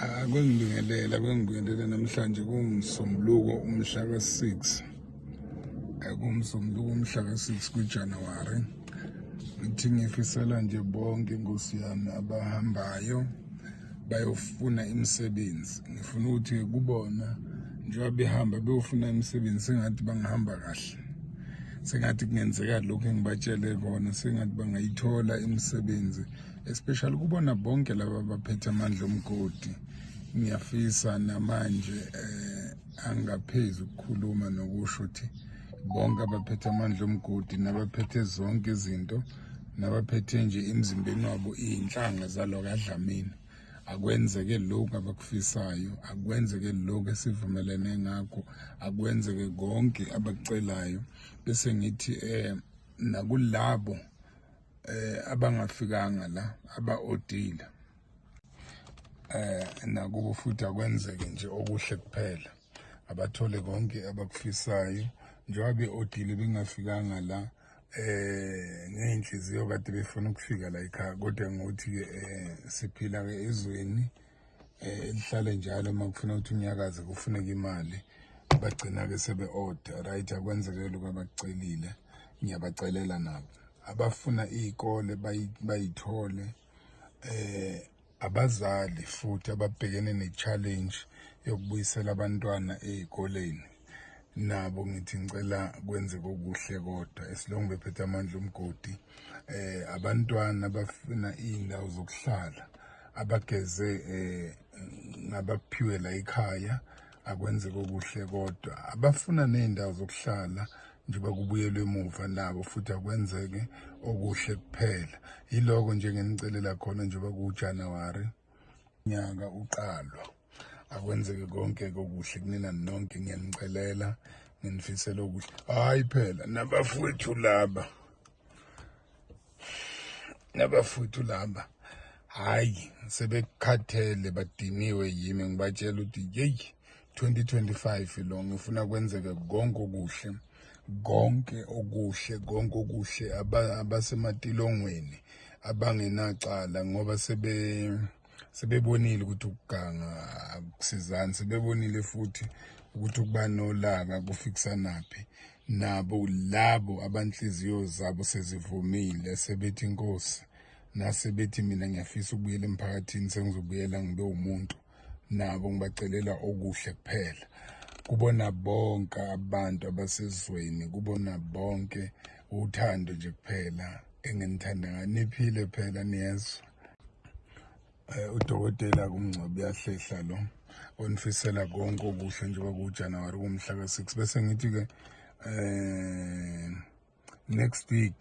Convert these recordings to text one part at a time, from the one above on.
akwengibingelela kwengibingelela namhlanje kungisombuluko umhla ka-6 kumsombuluko umhla ka-6 kujanuwari ngithi ngifisela nje bonke inkosi yami abahambayo bayofuna imisebenzi ngifuna ukuthi kubona njengoba behamba beyofuna imisebenzi sengathi bangihamba kahle sengathi kungenzeka lokhu engibatshele kona sengathi bangayithola imisebenzi especially kubona bonke laba baphethe amandla omgodi ngiyafisa namanje eh angaphezi ukukhuluma nokusho ukuthi bonke abaphethe amandla omgodi nabaphethe zonke izinto nabaphethe nje emzimbeni wabo iy'nhlanga zalo kadlamini akwenzeke lokhu abakufisayo akwenzeke lokhu esivumelene ngakho akwenzeke konke abakucelayo bese ngithi um nakulabo eh abangafikanga la abaodile eh nakubo futhi akwenzeke nje okuhle kuphela abathole konke abakufisayo njengoba beodile bengafikanga la eh ngeyinhliziyo kade befuna ukufika la ekhaya kodwa ngothi ke eh, siphila ke ezweni eh, elihlale njalo uma kufuna ukuthi unyakaze kufuneka imali bagcina-ke sebe-oda right akwenzekele kwabacelile ngiyabacelela nabo abafuna iy'kole bayithole eh abazali futhi ababhekene ne-challenge yokubuyisela abantwana ey'koleni nabo ngithi ngicela kwenzeke okuhle kodwa esilongu bephethe amandla umgodi eh abantwana abafuna izindawo zokuhlala abageze eh ngabaphiwe la ekhaya akwenzeke okuhle kodwa abafuna nezindawo zokuhlala njengoba kubuyelwe emuva nabo futhi akwenzeke okuhle kuphela yiloko nje ngenicelela khona njengoba kuJanuary nyaka uqalwa akwenzeke konke kokuhle kunina nonke ngiyanicelela nginifisela okuhle hayi phela nabafowethu laba nabafowethu laba hayi sebekhathele badiniwe yimi ngibatshela ukuthi yeyi 2025 lo ngifuna kwenzeke konke okuhle konke okuhle konke okuhle abasematilongweni abangenacala ngoba sebe sebebonile ukuthi ukuganga akusizani sebebonile futhi ukuthi ukuba nolaka kufikisanaphi nabo labo abanhliziyo zabo sezivumile sebethi inkosi nasebethi mina ngiyafisa ukubuyela emphakathini sengizobuyela ngibe umuntu nabo ngibacelela okuhle kuphela kubona bonke abantu abasezweni kubona bonke uthando nje kuphela enginithanda ngayo niphile phela niyezwa um udokotela kumngcwabo uyahlehla lo onifisela konke okuhle njengoba kuwujanuwari kumhla ka-six bese ngithi-ke um next week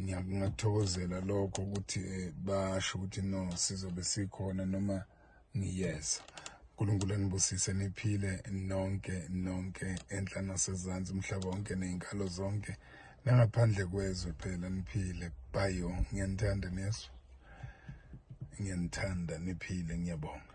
ngiyakuthokozela lokho ukuthi eh, basho ukuthi no sizobe sikhona noma ngiyeza uNkulunkulu anibusise niphile nonke nonke enhla nasezansi umhlaba wonke nezinkalo zonke nangaphandle kwezwe phela niphile bayo ngiyanithanda nesu ngiyanithanda niphile ngiyabonga